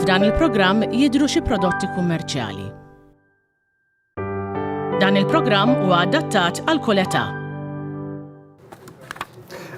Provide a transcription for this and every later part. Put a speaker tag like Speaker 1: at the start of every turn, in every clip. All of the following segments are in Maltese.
Speaker 1: F'dan il-programm jidhru xi prodotti kummerċjali. Dan il-programm huwa adattat għal kull età.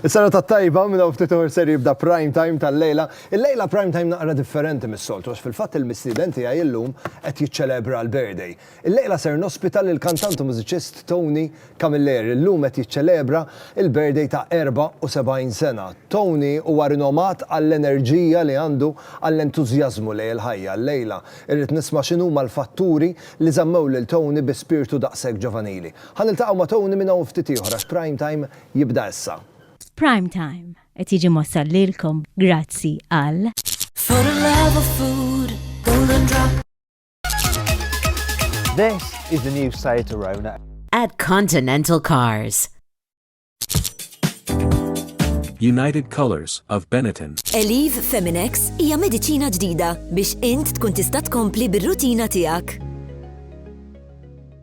Speaker 2: Is-sena ta' tajba minn hawn ftit ser jibda prime time tal-lejla. Il-lejla prime time naqra differenti mis-soltu għax fil-fatt il-mistieden tiegħi illum qed jiċċelebra l-birthday. Illejla ser nospita lill-kantant u mużiċist Tony Camilleri li llum qed jiċċelebra l-birthday ta' 74 sena. Tony huwa rinomat għall-enerġija li għandu, għall-entużjażmu lejn il-ħajja. Illejla irrid nisma' x'inhuma l-fatturi li żammew lil Tony bi spirtu daqshekk ġovanili. Ħa niltaqgħu ma' Tony minn hawn ftit ieħor għax Prime Time jibda issa. Prime Time
Speaker 3: qed jiġi mwassal lilkom grazzi għal.
Speaker 4: This is the new Seat Arona. At Continental
Speaker 5: Cars.
Speaker 6: United Colors of Benetton. Eliv Feminex
Speaker 7: hija mediċina ġdida biex int tkun tista' tkompli bir-rutina tiegħek.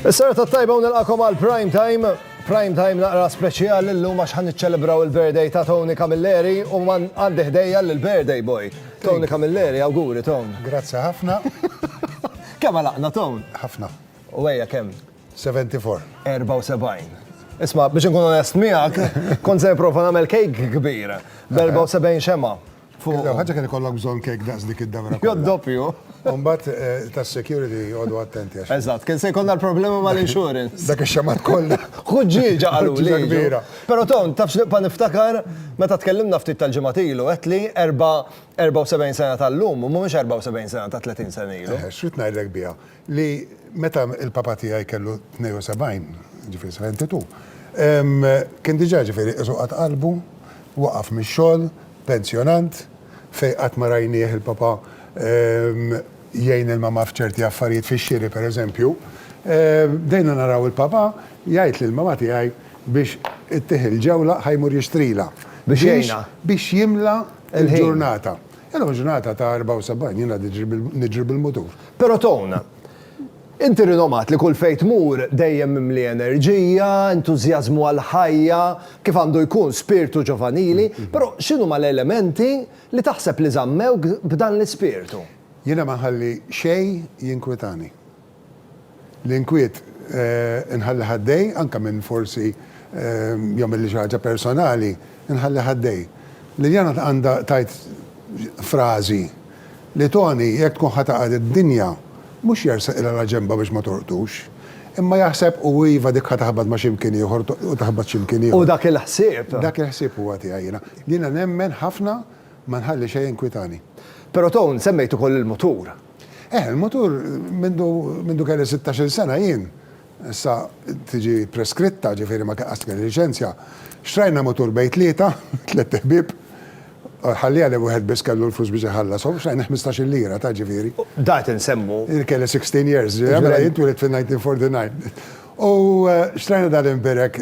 Speaker 2: Is-serata tajba u nilqakom għal prime time. Prime time naqra speċjali l-lum għax ħan niċċelebraw il-birthday ta' Tony Camilleri u man għandi ħdejja l-birthday boy. Tony Camilleri, awguri Tony. Grazzi ħafna. Kemm għalaqna Tony? Ħafna. U
Speaker 8: għeja kemm?
Speaker 2: 74. 74. Isma, biex nkun onest miegħek, kont se nipprova nagħmel kejk kbir, b'74 xema. Fuq. L-ewwel ħaġa kien
Speaker 8: ikollok bżonn kejk daqs dik id-damra. Jew doppju.
Speaker 2: U mbagħad
Speaker 8: tas-security għodu attenti għax. Eżatt, kien se jkollna l-problema
Speaker 2: mal-insurance. Dak ix-xamat kollha.
Speaker 8: Ħuġġieġa qaluli.
Speaker 2: Ħuġġieġa kbira. Però Tom,
Speaker 8: taf x'nibqa'
Speaker 2: niftakar? Meta tkellimna ftit tal-ġimgħat ilu, għedtli 74 sena tal-lum mhumiex 74 sena ta' 30 sena ilu. Eħe, x'rid ngħidlek biha?
Speaker 8: li meta l-papa tiegħi kellu 72, ġifieri 72, kien diġà ġifieri qisu qata' qalbu, waqaf mix-xogħol, pensjonant, fejn qatt ma rajnieh il-papa jgħin il-mamà f'ċerti affarijiet fix-xiri pereżempju. Bdejna naraw il-papa jgħid lill-mamà tiegħi biex ittih il-ġewla ħa jmur jixtrilha. Biex jgħinha.
Speaker 2: Biex jimla
Speaker 8: l-ġurnata. Jiena mhux ngħata ta' 74, jiena niġri bil-mutur. Però Tone,
Speaker 2: inti rinomat li kull fejn tmur dejjem mimli enerġija, entużjażmu għall-ħajja, kif għandu jkun spirtu ġovanili, però x'inhuma l-elementi li taħseb li żammewk b'dan l-ispirtu? Jiena ma nħalli
Speaker 8: xejn jinkwitani. L-inkwiet inħallih għaddej, anke minn forsi jagħmilli xi ħaġa personali, inħallih għaddej. Liliana għandha tgħid frażi li Toni, jekk tkun ħa taqgħad id-dinja, mhux jersaq ilha la ġenbha biex ma tolqtux, imma jaħseb u iva dik ħa taħbat ma' xi mkien ieħor u taħbat xi mkien ieħor. U dak il-ħsieb.
Speaker 2: Dak il-ħsieb huwa
Speaker 8: tiegħi jiena. Jiena nemmen ħafna ma nħalli xejn jinkwitani. Però Toni,
Speaker 2: semmejt ukoll il-mutur. Eh, il-mutur
Speaker 8: mindu, mindu kelli 16-il sena jien, issa tiġi preskritta, ġifieri ma qatt kelli liċenzja. Xtrajna mutur bejn tlieta, tlett iħbieb, ħallieha li wieħed biss kellu l-flus biex iħallas, u xtrajna ħmistax-il lira, taf ġifieri. Da qed insemmu.
Speaker 2: Jien kelli 16
Speaker 8: years, mela jien twielidt fin-1949. U xtrajna dan l-imbirek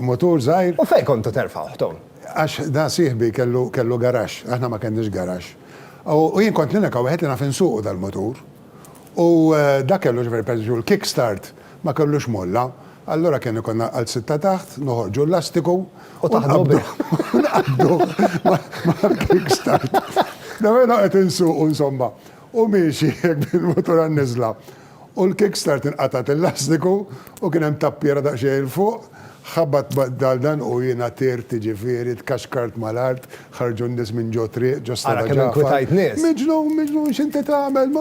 Speaker 8: mutur żgħir. U fejn kontu terfgħuh,
Speaker 2: Tom? Għax da sieħbi
Speaker 8: kellu, kellu garaxx, aħna ma kenniex garaxx. U jien kont l-unika wieħed li naf insuqu dal-mutur. U dak kellu ġifieri pereżempju l-kick start ma kellux molla, allura kien ikollna għal sitta taħt, noħorġu l-lastiku u taħdmu bih. U naqbdu mal-kick start. Nagħmel noqgħod insuqu insomma. U miexi hekk bil-mutur għan-niżla. U l-kickstart inqatgħet il-lastiku u kien hemm tappiera daqsxejn 'il fuq, ħabat bad-dal dan u jiena tirt jiġifieri tkaxkart mal-art, ħarġu n-nies minn ġo triq, ġo Strada Ġagħfar. Ara kemm inkwitajt nies! Miġnun,
Speaker 2: miġnun, x'inti
Speaker 8: tagħmel?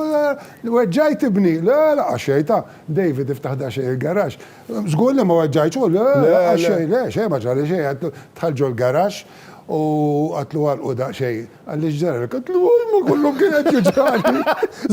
Speaker 8: Weġġajt ibni! Le, le, qax xejn, ta', David iftaħ daqsxejn il-garaxx. Żgur li ma weġġajtx hu? Le, le, qax xejn, le, xejn ma ġrali xejn, għidtlu dħalt ġol-garaxx u għidtlu għalqu daqsxejn. Għaliex ġara li kont l-ewwel ma kollu kien qed jiġrali.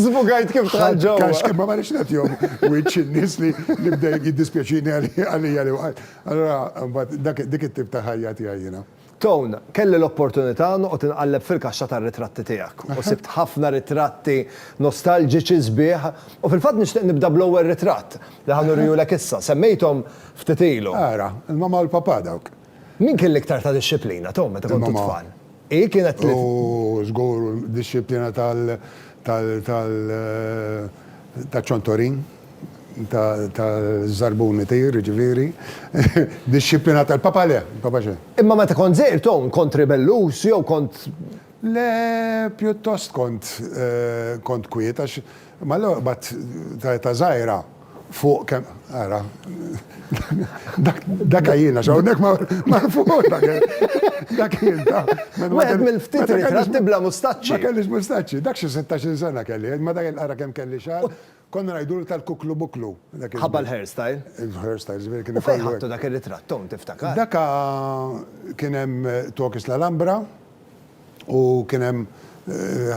Speaker 8: Żbugajt kif
Speaker 2: dħalt ġewwa. Kax kien ma marriċ nagħtihom
Speaker 8: wiċċ in-nies li bda jiddispjaċini għalija li waqgħet. Allura mbagħad dik it-tip ta' ħajja tiegħi jiena. Tone,
Speaker 2: kelli l-opportunità noqgħod inqalleb fil-kaxxa tar-ritratti tiegħek u sibt ħafna ritratti nostalġiċi sbieħ u fil-fatt nixtieq nibda bl-ewwel ritratt li ħa nuriehulek issa. Semmejthom ftit ilu. Ara, il-mamma u l-papà
Speaker 8: dawk. Min kien l-iktar
Speaker 2: ta' dixxiplina, Tom, meta kontu tfal? Hi kienet li. U żgur
Speaker 8: dixxiplina tal tal taċ-ċontorin, taż-żarbun itir, jiġifieri. Dixxiplina tal-papa le, il-papa xejn. Imma meta kont żgħir, Tom,
Speaker 2: kont ribellus jew kont. Le,
Speaker 8: pjuttost kont kwiet għax. Imma allura bat ta' età żgħira fuq kemm ara dak għajjina x'hawnhekk ma fuq dak dak jien ta' Wieħed mill-ftit
Speaker 2: ritratti bla mustaċċi. Ma kellix mustaċċi, dak
Speaker 8: xi sittax-il sena kelli, imma dak ara kemm kelli xagħar, konna ngħidulu tal-kuklu buklu. Ħabba l-hair style.
Speaker 2: Il-hair style żviri
Speaker 8: kien ikollu. U fejn ħadtu dak ir-ritratt
Speaker 2: int tiftakar? Dak
Speaker 8: kien hemm Tokis l-Alhambra, U kien hemm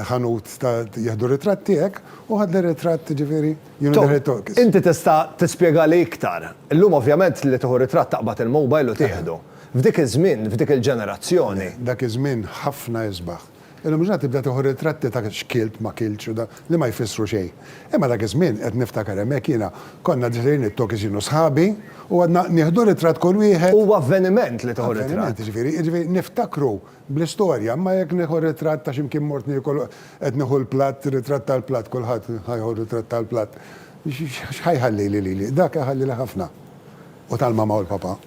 Speaker 8: ħanut ta' jieħdu ritratti hekk u ħadni ritratt ġifieri you know the head talk. Tom, inti tista'
Speaker 2: tispjegali iktar. Illum ovvjament li tieħu ritratt taqbad il-mobile u tieħdu. F'dik iż-żmien, f'dik il-ġenerazzjoni. Dak iż-żmien
Speaker 8: ħafna isbaħ. Illum il-ġurnata tibda tieħu ritratti ta' x'kilt, ma kiltx u da, li ma jfissru xejn. Imma dak iż-żmien, qed niftakar hemmhekk jiena, konna ġejjin it-talkies jien u sħabi u għadna nieħdu ritratt kull wieħed. Huwa avveniment li
Speaker 2: tieħu ritratt. Avveniment, ġifieri, ġifieri niftakru
Speaker 8: Bl-istorja, imma jekk nieħu ritratt ta' xi mkien mort niekol qed nieħu l-platt, ritratt tal-platt, kulħadd ħa jieħu ritratt tal-platt, x'ħa jħallili lili? Dak iħallili ħafna. U tal-mamma u l-papà.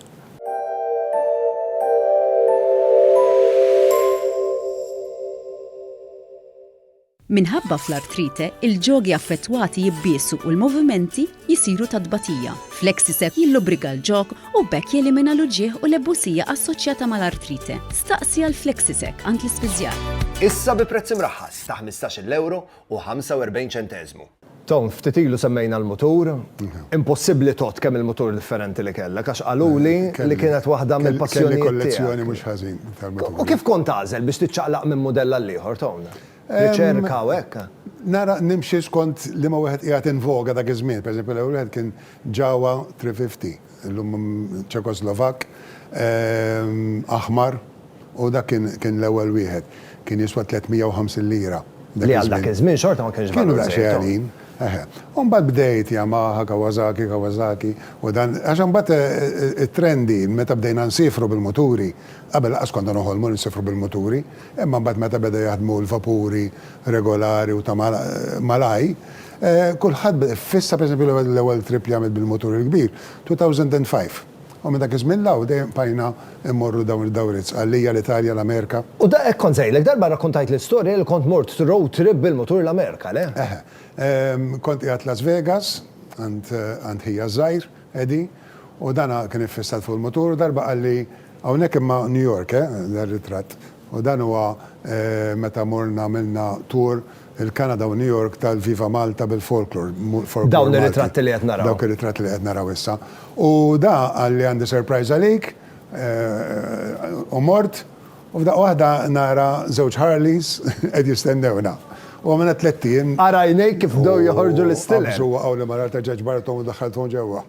Speaker 9: Minħabba fl-artrite, il-ġogi affettwati jibbiesu u l-movimenti jsiru ta' tbatija. Flexicep jillubrika l-ġog u b'hekk jelimina l-uġigħ u l-ebusija assoċjata mal-artrite. Staqsi għal Flexicep għand l-ispiżjar. Issa bi prezz
Speaker 2: imraħħas ta' ħmistax-il ewro u ħamsa u erbgħin ċenteżmu. Tom, ftit ilu semmejna l-mutur. Impossibbli tgħodd kemm il-mutur differenti li kellek għax qaluli li kienet waħda mill-passjonijiet tiegħek. Kelli kollezzjoni mhux ħażin
Speaker 8: tal-muturi. U kif kont tagħżel
Speaker 2: biex tiċċaqlaq minn mudell għall-ieħor, Tom? Riċerka u hekk? Nara, nimxi
Speaker 8: skont liema wieħed qiegħed in voga dak iż-żmien. Pereżempju, l-ewwel wieħed kien Jawa 350. illum Ċekoslovakk, aħmar, u dak kien kien l-ewwel wieħed. Kien jiswa 350 lira dak Li għal dak iż-żmien. iż-żmien
Speaker 2: xorta ma kienx Kienu valur daqsxejn żejt, oh. għalin,
Speaker 8: eħe. U mbagħad bdejt Yamaha, Kawasaki, Kawasaki, u dan, għax imbagħad it-trend hi meta bdejna nsiefru bil-muturi, qabel lanqas konna noħolmu li nsiefru bil-muturi, imma mbagħad meta beda jaħdmu l-vapuri regolari u ta' malaj, Kulħadd fissa pereżempju l-ewwel trip li għamilt bil-mutur il-kbir, 2005. U minn dak iż-żmien 'l hawn dejjem bqajna mmorru dawn id-dawriet, Sqallija, l-Italja, l-Amerika. U da hekk kont sejlek,
Speaker 2: darba rrakkuntajtli l-istorja li kont mort road trip bil-mutur l-Amerika, le? Eħe.
Speaker 8: Kont qiegħed Las Vegas għand ħija ż-żgħir, Eddie, u dan kien iffissat fuq il-mutur u darba qalli, hawnhekk imma New York, eh, dar-ritratt, u dan huwa meta morna għamilna tour il-Kanada u New York tal-Viva Malta bil-folklor, folklor Malti. Dawn ir-ritratti
Speaker 2: li qed naraw. Dawk ir-ritratti li qed naraw
Speaker 8: issa. U da qal li għandi surprise għalik, u mort, u f'daqqa waħda nara żewġ Harleys qed jistennewna. U għamilna tlett ijiem. Ara għajnejk kif bdew
Speaker 2: joħorġu l-istilel. Qabżu waqgħu li mara rtaġġaġ
Speaker 8: barra u daħħalthom ġewwa.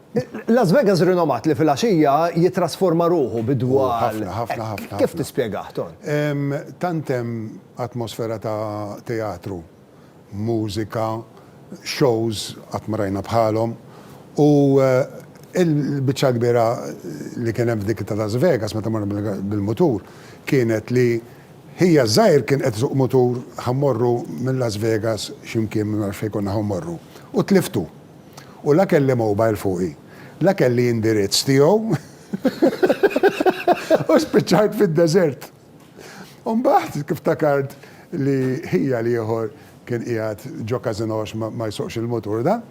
Speaker 8: Las Vegas
Speaker 2: rinomat li filgħaxija jittrasforma ruħu bi dwal hekk. Kif
Speaker 8: tispjegah,
Speaker 2: Ton? Tant hemm
Speaker 8: atmosfera ta' teatru, mużika, shows qatt ma rajna bħalhom u l-biċċa l-kbira li kien hemm f'dik ta' Las Vegas meta morna bil-mutur kienet li ħija ż-żgħir kien qed isuq mutur ħa mmorru minn Las Vegas xi mkien ma nafx fejn konna ħa mmorru u tliftu. U la kelli mobile fuqi, la kelli indirizz tiegħu u spiċċajt fid-deżert. U mbagħad ftakart li ħija l-ieħor kien qiegħed ġo każinò għax ma jsuqx il-mutur dan,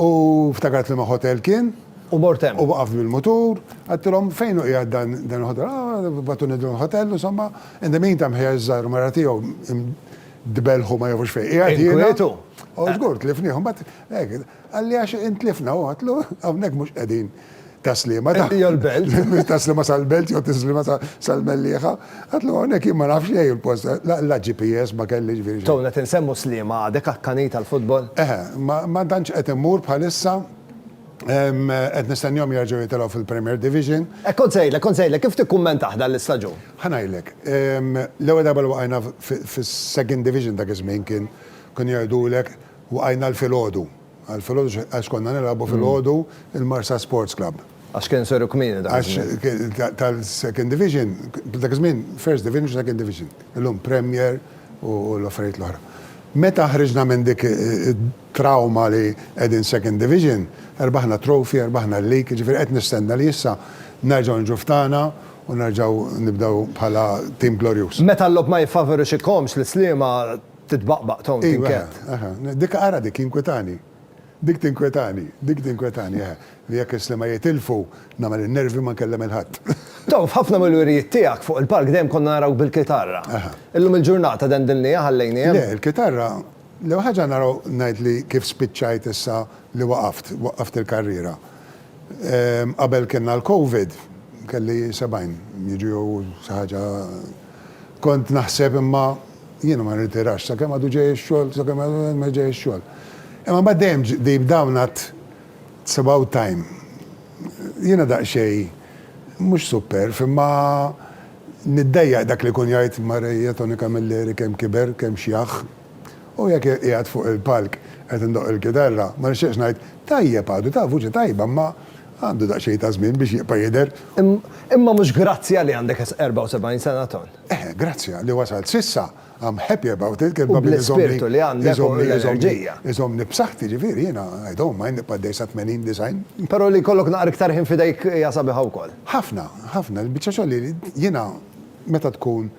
Speaker 8: u ftakart liema ħotel kien, U mort hemm. u waqaft
Speaker 2: bil-mutur,
Speaker 8: għedtilhom fejn hu qiegħed dan dan il-ħotel, ah, bagħtuni dan il-ħotel, insomma, in the meantime ħija ż-żgħir u mara tiegħu Dbelħu ma jafux fejn. Inkwetu.
Speaker 2: U żgur
Speaker 8: tlifniehom, bat hekk, għalli għax intlifna u għatlu hawnhekk mhux qegħdin taslima. Hija l-belt.
Speaker 2: Taslima sal-belt
Speaker 8: jew taslima sal-Mellieħa. Għatlu hawnhekk jien ma nafx xejn il-post, la GPS ma kelli ġifieri xejn. Towna qed insemmu Sliema għadek
Speaker 2: akkanit għall-futbol?
Speaker 8: Eħe,
Speaker 2: ma
Speaker 8: tantx
Speaker 2: qed immur bħalissa.
Speaker 8: Qed nistennihom jerġgħu jitilgħu fil-Premier Division. Hekk kont se ngħidlek, kont se ngħidlek
Speaker 2: kif tikkummentah dan l-istaġun. Ħa ngħidlek,
Speaker 8: l-ewwel darba li waqajna fis-Second Division dak iż-żmien kien kienu jgħidulek waqajna l-filgħodu. Għall-filgħodu għax konna nilgħabu filgħodu l-Marsa Sports Club. Għax kien seru kmieni
Speaker 2: dak iż-żmien. Għax kien
Speaker 8: tal-Second Division, dak iż-żmien First Division, Second Division. Illum Premier u l-affarijiet l-oħra. Meta ħriġna minn dik, trawma li qegħdin second division, rbaħna trophy, rbaħna l-league, jiġifieri qed nistenna li issa nerġgħu niġu f'tagħna u nerġgħu nibdew bħala tim glorjuż. Meta l-logħob ma
Speaker 2: jiffavorixxikhomx l-Sliema titbaqbaq, Tony, tinkedd. Iva, eħe, eħe. Dik, ara
Speaker 8: dik, jinkwitani. Dik tinkwitani, dik tinkwitani, eħe. Li jekk is-Sliema jitilfu, nagħmel in-nervi ma nkellem il-ħadd. Tom, f'ħafna
Speaker 2: mill-wirjiet tiegħek fuq il-palk dejjem konna narawk bil-kitarra. Illum il-ġurnata dendilniha, ħallejniha hemm? Le, il-kitarra,
Speaker 8: L-ewwel ħaġa naraw ngħid li kif spiċċajt issa li waqaft, waqqaft il-karriera. Qabel kellna l-Covid, kelli sebgħin, jiġu jew xi ħaġa kont naħseb imma jiena ma nirtirax sakemm għadu ġej ix-xogħol, sakemm għadu ma ġej ix-xogħol. Imma mbagħad dejjem deep down għadt it's about time. Jiena daqsxejn mhux superf imma Niddejjaq dak li jkun jgħid Mareja Toni Camilleri kemm kiber, kemm xjaħ. U jekk qiegħed fuq il-palk qed indoqq il-kitarra, ma nixtieqx ngħid, tajjeb għadu, ta' vuċi tajba imma għandu daqsxejn ta' żmien biex jibqa' jidher. Imma mhux
Speaker 2: grazzja li għandek 74 sena, Ton. Eh, grazzja li
Speaker 8: wasalt s'issa. I'm happy about it, kelma li
Speaker 2: iżommni b'saħħti,
Speaker 8: ġifieri jiena I don't mind nibqa' għaddej sa 80, 90. Però li jkollok naqra
Speaker 2: iktar ħin f'idejk hija sabiħa wkoll. Ħafna, ħafna.
Speaker 8: Il-biċċa xogħol li jiena meta tkun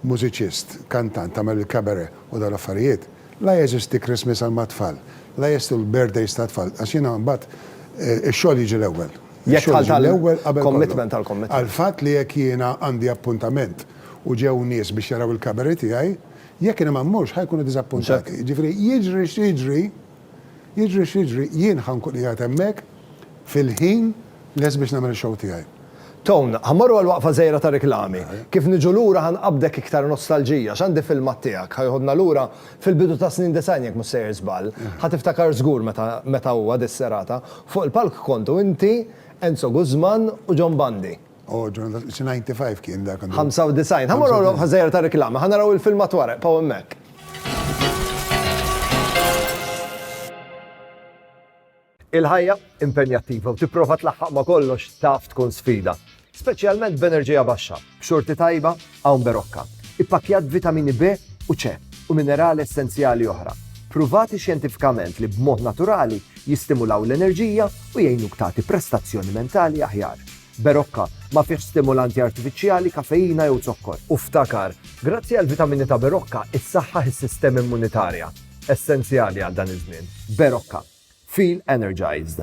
Speaker 8: mużiċist, kantant, tagħmel il-cabaret u dawn l-affarijiet, la jeżisti Christmas għal mat-tfal, la jeżistu l-birthdays tat-tfal, għax jiena mbagħad ix-xogħol jiġi l-ewwel. Ix-xogħol jiġi l-ewwel
Speaker 2: qabel kollox. Għall-fatt li jekk jiena
Speaker 8: għandi appuntament u ġew nies biex jaraw il-cabaret tiegħi, jekk jien ma mmurx ħa jkunu diżappuntati. Jiġifieri jiġri x'jiġri, jiġri x'jiġri, jien ħa nkun qiegħed hemmhekk fil-ħin lest biex nagħmel ix-show tiegħi. Tone, Ħa mmorru
Speaker 2: għal waqfa żgħira ta' riklami. Kif niġu lura ħa nqabbdek iktar nostalġija, għax għandi filmat tiegħek ħa jħoddna lura fil-bidu tas-snin disgħin jekk mhux sejjer żball. Ħa tiftakar żgur meta meta huwa dis-serata. Fuq il-palk kontu inti, Enzo Guzman u John Bandi. Oh, John, that's- it's 95
Speaker 8: kien dak għandu. 95. Ħa morru
Speaker 2: l-oqfa żgħira ta' reklama, ħa naraw il-filmat wara, paw hemmhekk. Il-ħajja impenjattiva u tipprova tlaħħaq ma' kollox taf tkun sfida, speċjalment b'enerġija baxxa, b'xorti tajba Hawn Berocca, ippakkjat b'vitamini B u C u minerali essenzjali oħra, pruvati xjentifikament li b'mod naturali jistimulaw l-enerġija u jgħinuk tagħti prestazzjoni mentali aħjar. Berocca ma fihx stimulanti artifiċjali, kafeina jew zokkor. U ftakar, grazzi għall-vitamini ta' Berocca issaħħaħ is-sistema immunitarja, essenzjali għal dan iż-żmien. Berocca. Feel energized.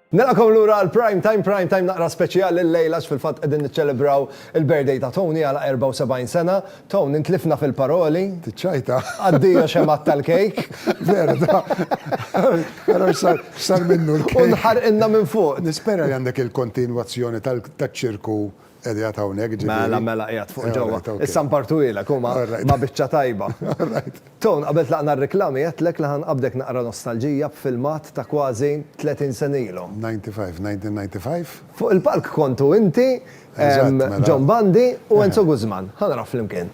Speaker 2: Nilqakom lura għal Prime Time, Prime Time naqra speċjali llejla għax fil-fatt qegħdin niċċelebraw il-birthday ta' Tony għala 74 sena. Tony, intlifna fil-paroli. Tiċċajta.
Speaker 8: Addio xemgħat
Speaker 2: tal-kejk. Veru da.
Speaker 8: Ara x'sar minnu l-kejk. U nħarqilna minn fuq.
Speaker 2: Nispera li għandek
Speaker 8: il-kontinwazzjoni taċ-ċirku Qiegħed hawnhekk, ġifieri. Mela, mela, qiegħed fuq
Speaker 2: ġewwa. Issa npartuhielek, hu ma, ma biċċa tajba. Tone, qabel tlaqna r-riklami għedtlek li ħa nqabbdek naqra nostalġija b'filmat ta' kważi 30 sena ilu. 95, 1995.
Speaker 8: Fuq il-palk
Speaker 2: kontu inti, John Bandi u Enzo Guzman. Ħa naraw flimkien.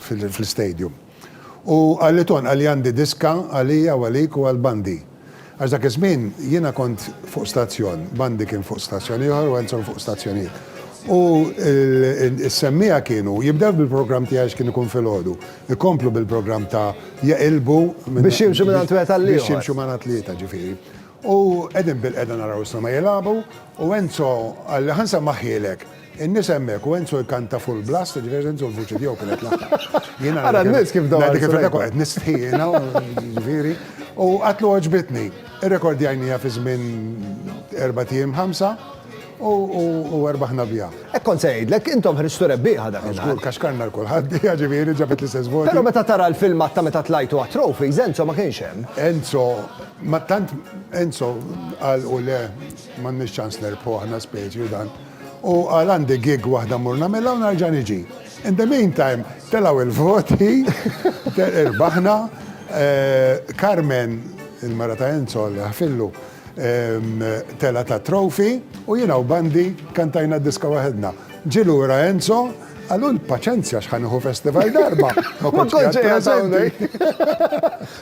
Speaker 8: fl-istadium. U qalli tonqal li għandi diska għalija u għalik u għal Bandi. Għax dak iż-żmien jiena kont fuq stazzjon, Bandi kien fuq stazzjon ieħor u Enzo fuq stazzjon ieħor. U s-semmiegħa kienu jibdew bil-programm tiegħi għax kien ikun filgħodu, ikomplu bil-programm ta' jeqilbu. Biex jimxu minn
Speaker 2: għand wieħed għall-ieħor. Biex jimxu mar atlieta,
Speaker 8: ġifieri. U qegħdin bilqiegħda naraw is-Soma jilagħbu u Enzo qalli ħa nsemmaħhielek. In-nies hemmhekk u Enzo jkanta full blast, ġifieri Enzo l-vuċi tiegħu kienet l-aħħar. Jiena Ara n-nies kif
Speaker 2: dawru. Ngħidik il-verità kont qed nistħi
Speaker 8: jiena, ġifieri. U qatlu għoġbitni. Irrekordjajniha fi żmien erba' ijiem ħamsa u erbaħna biha. Hekk kont se ngħidlek,
Speaker 2: intom ħriġtu rebbieħa dak il-ħin. Żgur kaxkarna l-kulħadd
Speaker 8: biha ġifieri ġabet l-istess voti. Però meta tara l-filmat
Speaker 2: ta' meta tlajtu għat-trophies, Enzo ma kienx hemm. Enzo,
Speaker 8: ma tant Enzo qal u le m'għandniex ċans nerbħu aħna speċi u dan. U qal għandi gig waħda mmur nagħmilha u nerġa' niġi. In the meantime telgħu il-voti, irbaħna, Carmen, il-mara ta' Enzo, Alla jaħfirlu, telgħet għat-trophy u jiena u Bandi kantajna d-diska waħedna. Ġie lura Enzo, qal hu l-paċenzja x'ħa nieħu festival darba ma kontx qiegħed preżenti.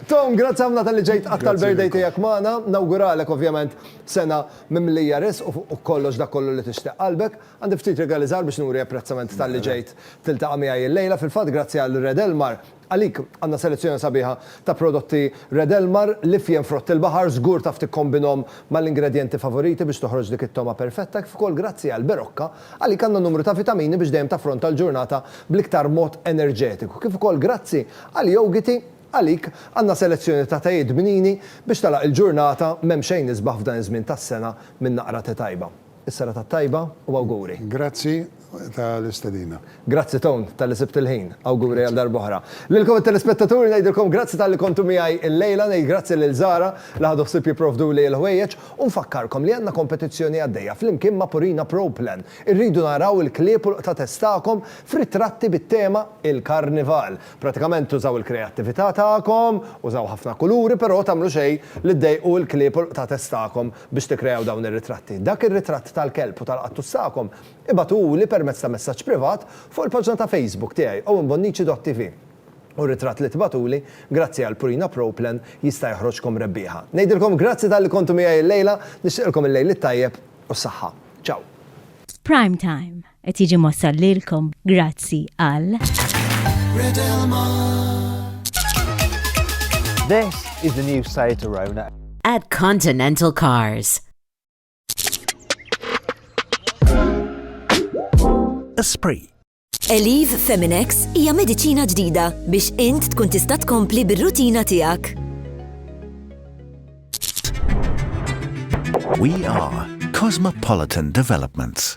Speaker 2: Tom, grazzi ħafna talli ġejt għat-tal-birthday tiegħek magħna. Nawguralek ovvjament sena mimlija riżq u fuq kollox dak kollu li tixtieq qalbek. Għandi ftit rigali żgħar biex nuri apprezzament talli ġejt tiltaqa' miegħi illejla. Fil-fatt grazzi għal Red Elmar, għalik għandna selezzjoni sabiħa ta' prodotti Red Elmar, l-ifjen frott il-baħar, żgur taf tikkombinhom mal-ingredjenti favoriti biex toħroġ dik it-togħma perfetta, kif ukoll grazzi għal Berocca, għalik għandna numru ta' vitamini biex dejjem taffronta l-ġurnata bl-iktar mod enerġetiku, kif ukoll grazzi għal Yougiti, Għalik għandna selezzjoni ta' tajiet bnini biex tagħlaq il-ġurnata, m'hemm xejn isbaħ f'dan iż-żmien tas-sena minn naqra te tajba. Is-serata t-tajba u awguri. Grazzi
Speaker 8: tal-istedina. Grazzi Tone
Speaker 2: talli sibt il-ħin. Awguri għal darb'oħra. Lilkom it-telespettaturi ngħidilkom grazzi talli kontu miegħi illejla, ngħid grazzi lil Zara li ħadu ħsieb jipprovduli l-ħwejjeġ u nfakkarkom li għandna kompetizzjoni għaddejja flimkien ma' Purina Pro Plan. Irridu naraw il-klieb u l-qtgħa tagħkom f'ritratti bit-tema Il-Karnival. Pratikament tużaw il-kreattività tagħkom, użaw ħafna kuluri, però tagħmlu xejn li ddejqu l-klieb u l-qtates tagħkom biex tikkreaw dawn ir-ritratti. Dak ir-ritratt tal-kelb u tal-qattus tagħkom ibagħtuhuli permezz ta' messaġġ privat fuq il-paġna ta' Facebook tiegħi owenbonnici.tv u r-ritratt li tibagħtuli grazzi għal Purina Pro Plan jista' joħroġkom rebbieħa. Ngħidilkom grazzi talli kontu miegħi llejla, nixtieqilkom il-lejl it-tajjeb u s-saħħa. Ciao! F'Prime
Speaker 3: Time, Qed jiġi mossal lilkom grazzi għal.
Speaker 4: This is the new Seat Arona. At Continental
Speaker 10: Cars.
Speaker 11: Esprit. Eliv
Speaker 7: Feminex hija mediċina ġdida biex int tkun tista' tkompli bir-rutina tiegħek.
Speaker 11: We are Cosmopolitan Developments.